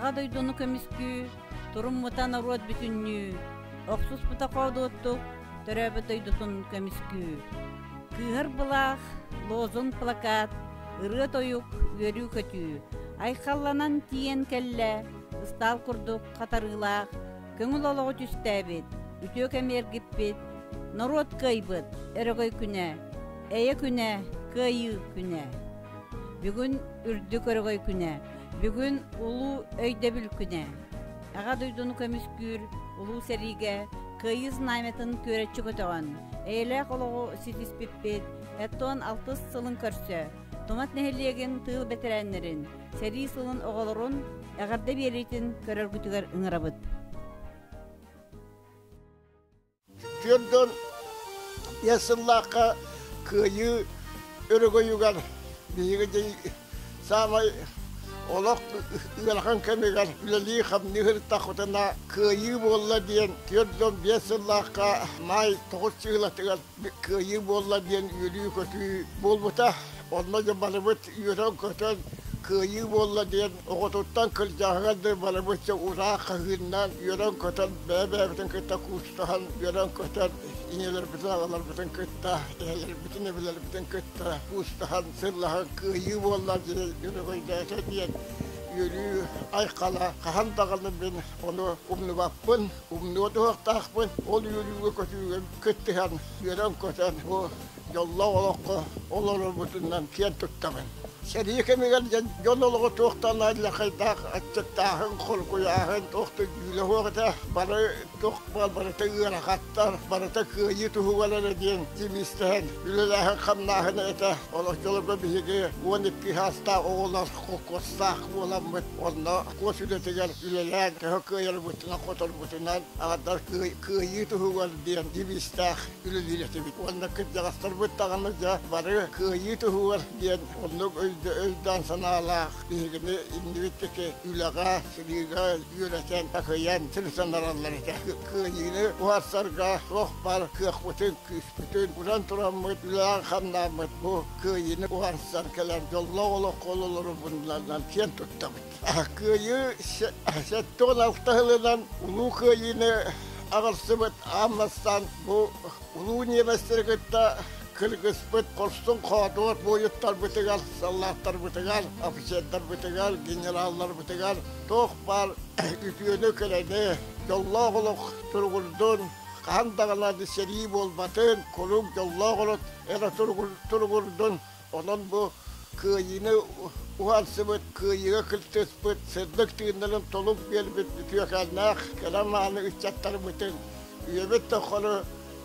Аҕа дойдуну көмүскүү, туруммута норуот бүтүннүү, охсуспута хоодуоттук, төрөөбүт дойдутун көмүскүү. Кыыһар былаах, лозунг плакат, ырыа тойук, үөрүү-көтүү, айхалланан тиийэн кэллэ, ыстаал курдук хатарыылаах, көҥүл олоҕу түстээбит, үтүө кэмиэргиппит, норуот кыайбыт, өрөгөй күнэ, эйэ күнэ, кыайыы күнэ. Бүгүн үрдүк өрөгөй күнэ, бүгүн улуу өйдөбүл күнэ. Аҕа дойдуну көмүскүүр улуу сэриигэ Кыайыы знамятын күөрэччи көтөҕөн, эйэлээх олоҕу ситиспиппит, оттон алтыс сылын көрсө Томат нэһилиэгин тыыл бэтэрээннэрин, сэрии сылын оҕолорун эҕэрдэ биэриитин көрөргүтүгэр ыҥырабыт. Күөн дьон эр сыллаахха кыайыы өрөгөйүгэр биһиги дьей саамай олох ыарахан кэмигэр үлэлии-хамныы ырыттахытына кыайыы буолла диэн күөр дьон биэс сыллаахха маай тоҕус чыылатыгар кыайыы буолла диэн үөрүү-көтүү буолбута. Онно дьэ барыбыт үөрэн-көтөн кыайыы буолла диэн оҕотуттан кырдьаҕаһыгар да барыбыт ураах хаһыыннаан үөрэн-көтөн бэйэ-бэйэбитин кытта куустаһан үөрэн-көтөн ийэлэрбитин аҕаларбытын кытта эһэлэрбитин эбэлэрбитин кытта куустаһан сыллаһан кыайыы буолла диэн үөрүгүйдээтэ диэн үөрүү айхала хаһан даҕаны мин ону умнубаппын Умнуот уһуктаахпын, ол үөрүүгэ-көтүүгэ кыттыһан, үөрэн-көтөн, бу дьоллоох олоххо олорорбутунан киэн туттабын. Сэрии кэмигэр дьон олоҕо туохтанар лакайдаах аччыктааһын, холкуйааһын, туох да дьүүлэһуох этэ. Бары туох барыта ыарахаттар, барыта кыайыы туһугар эрэ диэн тимистэһэн, үлэлээһин-хамнааһын этэ. Олох дьолго биһиги уон икки саастаах оҕолор холкуостаах буоламмыт, онно куос үлэтигэр үлэлээн төһө кыайарбытынан-хоторбутунан аҕардар кыайыы туһугар диэн дибиистээх үлэлиирэтибит уонна кырдьаҕастарбыт даҕаны дьэ бары кыайыы туһугар диэн оннук өйдөөн санаалаах биһигини иннибиттики үлэҕэ сырыыга үөрэтэн такыйан сир санараллар этэ кыайыыны уһарсарга туох бар кыахпытын күүспүтүн уран тураммыт үлээн-хамнааммыт бу кыайыыны уһарсар кэлэн дьоллоох олоххо олорорбуннан киэн туттабыт Кыайыы сэттэ уон алта сылынан Улуу Кыайыыны аҕырсыбыт аан бастаан бу улуу ньиэбэстэри кытта кыргыспыт хорсун хоодуот буойуттарбытыгар, саллааттарбытыгар, офицердарбытыгар, генералларбытыгар туох баар үтүөнү-кэрэни, дьоллоох олох туругурдун, хаһан даҕаны сэрии буолбатын, куруук дьоллоох олох эрэ туругурдун Онон бу кыайыыны уһансыбыт, кыайыыга кыттыспыт сырдык тыыннарын толук биэрбит үтүөкэннээх кэрэ мааны ыччаттарбытын үйэбит тоххону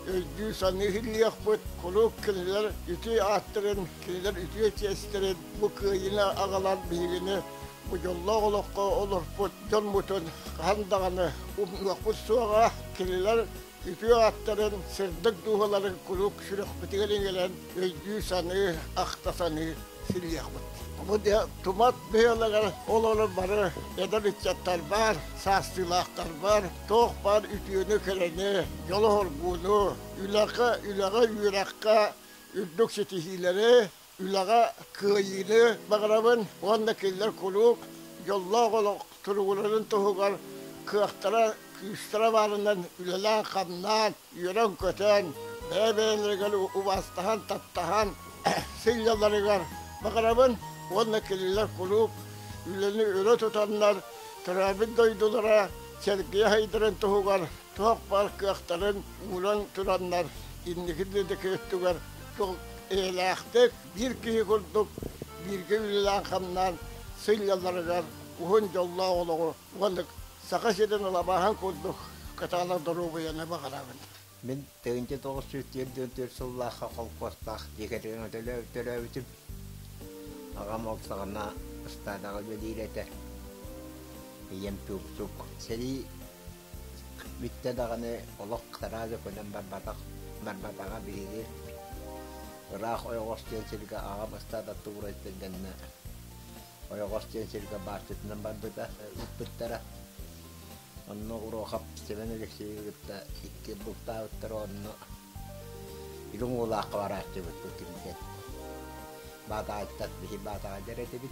өйдүү-саныы иһиллиэхпит, куруук кинилэр үтүө ааттарын, кинилэр үтүө чиэстэрин, бу кыайыыны аҕалан биһигини бу дьоллоох олоххо олорпут дьоммутун хаһан даҕаны умнуохпут суоҕа, кинилэр Үтүө аттарын, сырдык дууһаларын куруук сүрэхпитигэр иҥэрэн өйдүү-саныы, ахта-саныы сирийиэхпит. Бу тумат быһыылаҕар олорор бары эдэр ыччаттар баар, саастыылаахтар баар, туох баар үтүөнү-кэрэни, дьолу-хоргууну, үлэҕэ, үрэххэ, үрдүк ситиһиилэри, Үлэҕэ кыайыыны баҕарабын уонна кинилэр куруук дьоллоох олох туругурарын туһугар кыахтара, күүстэрэ баарынан үлэлээн-хамнаан, үөрэн-көтөн, бэйэ-бэйэлэригэр убаастаһан, таптаһан сынньалларыгар баҕарабын уонна кинилэр куруук үлэни өрө тутаннар, төрөөбүт дойдулара сэргийэ сайдарын туһугар туох-бар кыахтарын ууран тураннар инники дьиэ өттүгэр туох эйэлээхтик биир киһи курдук бииргэ үлэлээн-хамнаан сынньалларыгар уһун дьоллоох олоҕу уонна Саха сирин ылабааһын курдук кытаанах доруобуйаны баҕарабын. Мин тыгынча тоҕус сүүс түөртүн төрт сыллаахха холкуостаах Екатерина төрөөбүтүм. Аҕам ол саҕана ыстаадаҕа үлэлиир этэ. Ийэм тууксук. Сэрии Бүттэ даҕаны олох кытараа да көнөн барбатах барбатаҕа биһиги ыраах ойоҕос диэн сиргэ аҕа бастаан оттубурайтын кэннэ ойоҕос диэн сиргэ бааччытынан барбыта ыппыттара. Онно Уруохап Семен Алексеевы кытта икки бултаабыттара онно Илин Уулаахха барааччыбыт бу кимтэн Баатаҕайтан биһи Баатаҕа дэр этибит.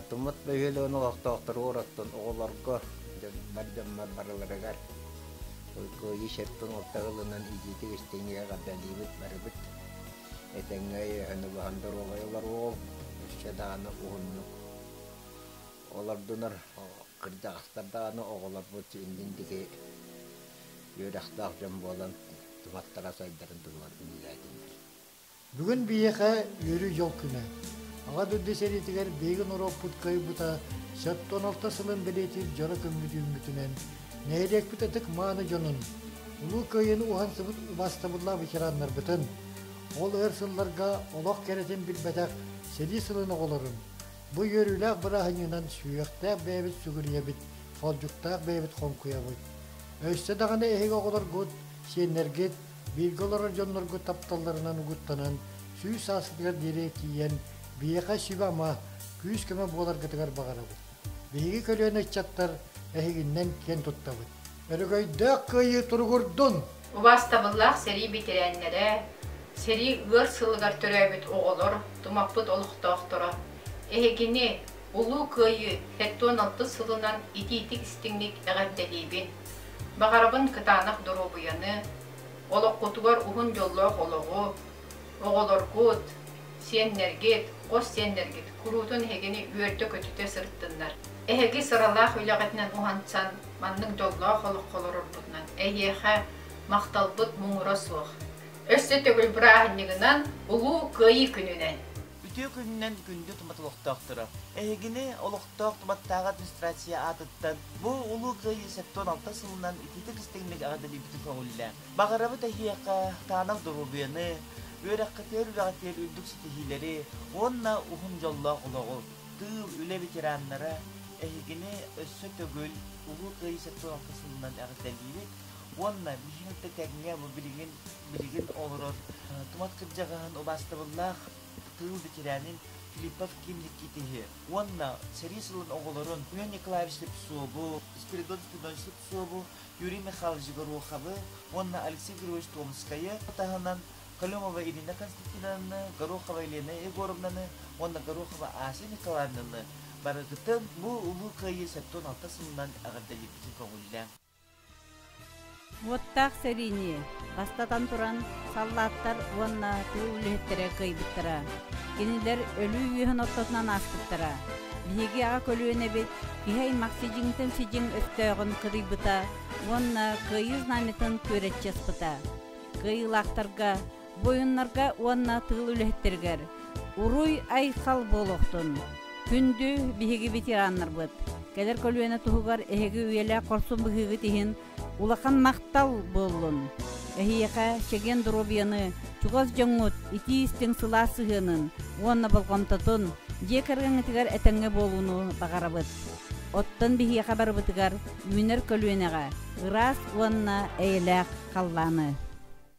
Утуммут бөһүөлэгин олохтоохтору оростон оҕолорго, дьоннор дьоммор арыларыгар Уйгуйи сирпин орто ылынан иитиитик истиҥҥэ эҕэрдэлиибит барыбыт. Этэҥҥэ өйөһөнө баһан доруобай олор уол, өссө даҕаны уһуннук олордунар кырдьаҕастар даҕаны оҕолорбут иннин диги үөрэхтээх дьон буолан туматтара сайдарын туһугар үлэлээтиннэр Бүгүн биһиэхэ үөрүү дьыл күнэ. Аҕа дойду сэриитигэр биһиги норуоппутка уйбута сөптөөн орто сылын бэлиэтиир дьоро күммүт үүммүтүнэн нэһилиэкпит ытык-мааны дьонун, Улуу Кыайыыны уһансыбыт убаастабыллаах ветераннарбытын, ол өр сылларга олох кэрэтин билбэтэх сэрии сылын оҕолорун бу үөрүүлээх бырааһынньыгынан сүһүөхтээх бэйэбит сүгүрүйэбит, холдьуктаах бэйэбит хоҥкуйабыт. Өссө даҕаны эһиги оҕолоргут, сиэннэргит бииргэ олорор дьоннорго тапталларынан угуттанан сүүс саастатыгар диэри тиийэн биһиэхэ сүбэ-ама, күүс-көмө буоларгытыгар баҕарабыт. Биһиги көлүөнэ ыччаттар эһигиннэн киэн туттабыт. Өрөгөйдөөх кыайыы туругурдун! Убаастабыллаах сэрии бэтэрээннэрэ, сэрии ыар сылыгар төрөөбүт оҕолор, тумаппыт олохтоохторо! Эһигини, Улуу Кыайыы сэттуон алта сылынан итиитик-истиҥник эҕэрдэлиибин! Баҕарабын кытаанах доруобуйаны, олоххутугар уһун дьоллоох олоҕу! Оҕолоргут, сиэннэргит, хос сиэннэргит куруутун эһигини үөрдэ-көтүтэ сырыттыннар! Эһиги сыралаах үлэҕитинэн уһансан, маннык дьоллоох олоххо олорорбутунан эйиэхэ махталбыт муҥура суох. Өссө төгүл бырааһынньыгынан Улуу Кыайыы күнүнэн! Үтүө күнүнэн күндү туматылохтоохторо! Эһигини олохтоох туматтааҕы администрация аатыттан бу Улуу Кыайыы сэттэ уон алта сылынан итиитик истиҥник эҕэрдэлиибитин көҕүллээҥ. Баҕарабыт эһиэхэ таанах доруобуйаны, үөрэххитигэр-үөрэҕитигэр үрдүк ситиһиилэри уонна уһун дьоллоох олоҕу! Тыыл, үлэ ветераннара, эһигини өссө төгүл Улуу Кыайыы сэттэ уон алта сылынан эҕэрдэлиибит уонна миигин кытта тэҥҥэ бу билигин билигин олорор тумат кырдьаҕаһын убаастабыллаах тыл ветеранин Филиппов Кимникити уонна сэрии сылын оҕолорун Юрий Николаевич Слепцову, Спиридон Спинович Слепцову, Юрий Михайлович Гороховы уонна Алексей Григорьевич Томскайы таһынан Колемова Ирина Константиновна, Горохова Елена Егоровнаны уонна Горохова Ася Николаевнаны барытытын бу Улуу Кыайыы сэттэ уон алта сылынан эҕэрдэлиирбитин көҕүллээн Уоттаах сэриини, бастатан туран, саллааттар уонна тыыл үлэһиттэрэ кыайбыттара. Кинилэр өлүү үөһүн ортотунан ааспыттара. Биһиги аҕа көлүөнэбит киһи аймах сидьиҥтэн сидьиҥ өстөөҕүн кыдыйбыта уонна кыайыы знамятын күөрэччи аспыта. Кыайыылаахтарга Буойуннарга уонна тыыл үлэһиттэригэр уруй-айхал буолуохтун! Күндү биһиги ветераннарбыт! Кэлэр көлүөнэ туһугар эһиги үйэлээх хорсун быһыыгыт иһин улахан махтал буоллун! Эһиэхэ чэгиэн доруобуйаны, чугас дьоҥҥут итии-истиҥ сылаас сыһыанын уонна болҕомтотун дьиэ кэргэҥҥитигэр этэҥҥэ буолууну баҕарабыт. Оттон биһиэхэ барыбытыгар үүнэр көлүөнэҕэ ыраас уонна эйэлээх халлааны!